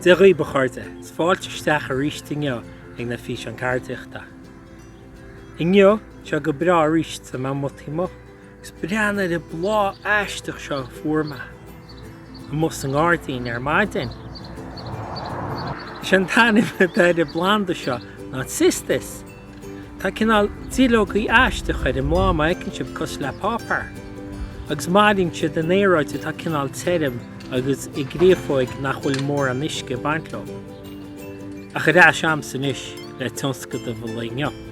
Dia dhaoibh a chairde, 's fáilte isteach aríst inniu ag na Físeáin Ceardaíochta. Inniu, tá sé go breá aríst 's tá mé amuigh taobh amuigh. Is breathnaigh ar an bláth aisteach seo a fuair mé amuigh sa ngairdín ar maidin. Is é an t-ainm atá ar an bplanda seo ná Cistus. Tá cineál duilleogaí aisteach ar an mbláth, má fheiceann sibh, cosúil le páipeár, agus maireann siad in aeráid atá cineál tirim agus i gcréafóig nach bhfuil mórán uisce ag baint leo. Ach ar ais a'msa anois le tionscadamh an lae inniu.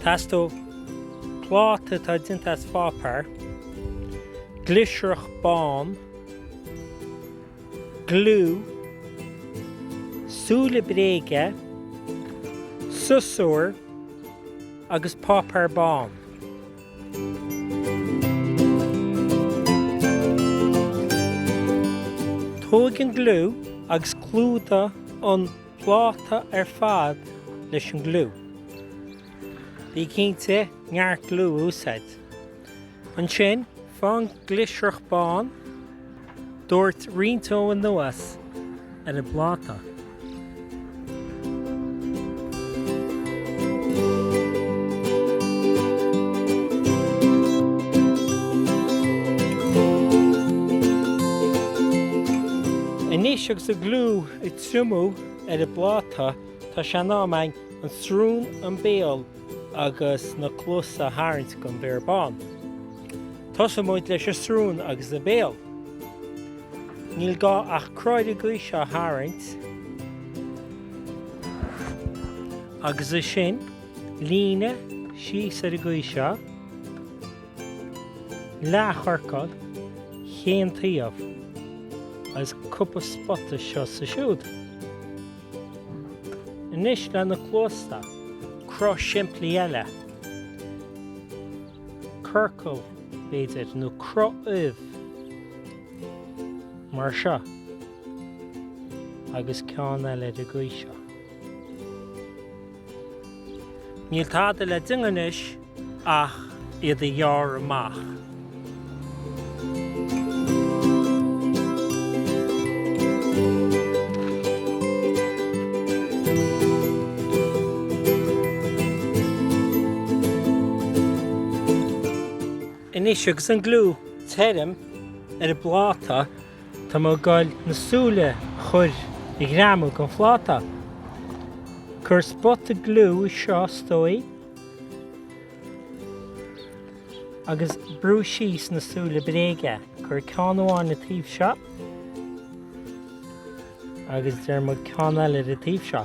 Teastóidh pláta atá déanta as páipeár, glisreach bán, gliú, súile bréige, siosúr agus páipeár bán. Tóg an gliú agus clúdaigh an. pláta ar fad leis an gliú. Bí cinnte neart gliú a úsáid. Ansin, faigh an glisreach bán, doirt roinnt dó anuas ar an bpláta. Anois agus an gliú ag triomú ar an bpláta tá sé in am a'inn an srún, an béal agus na cluasa a tharraingt don bhéar bán. Tosóidh muid leis an srún agus an béal. Níl gá ach croí ar an gcaoi seo a tharraingt agus ansin líne síos ar an gcaoi seo. Leathchiorcal, chaon taobh, agus cúpla spota anseo 's ansiúd. Anois le na cluasa, cruth simplí eile. Ciorcal, b'fhéidir, nó cruth ubh. Mar seo. Agus ceann eile ar an gcaoi seo. Níl tada le déanamh anois ach iad a ghearradh amach. Anois agus an gliú tirim ar an bpláta. Tá mé ag goil na súile a chur a ghreamú don phláta. Cuir spota gliú seo stoigh agus brú síos na súile bréige. Cuir ceann amháin ar an taobh seo agus deir muid ceann eile ar an taobh seo.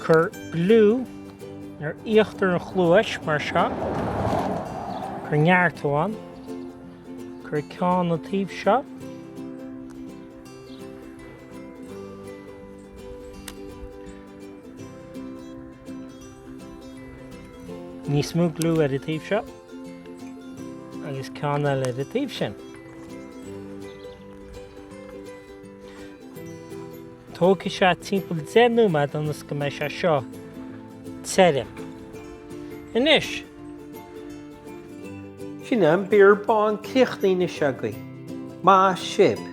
Cuir gliú ar íochtar an chluais mar seo. Cuir neartú ann. Cuir ceann ar an taobh seo. Níos mó gliú ar an taobh seo. Agus ceann eile ar an taobh sin. Tógfaidh sé timpeall deich nóiméad ionas go mbeidh sé seo tirim. Anois. Sin é an béar bán críochnaithe anois againn. Maith sibh.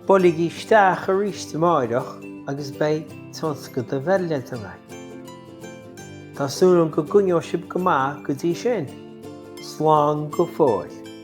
Buailigí isteach aríst amáireach agus beidh tionscadal eile le déanamh. Tá súil agam go gcoinneoidh sibh go maith go dtí sin. Slán go fóill.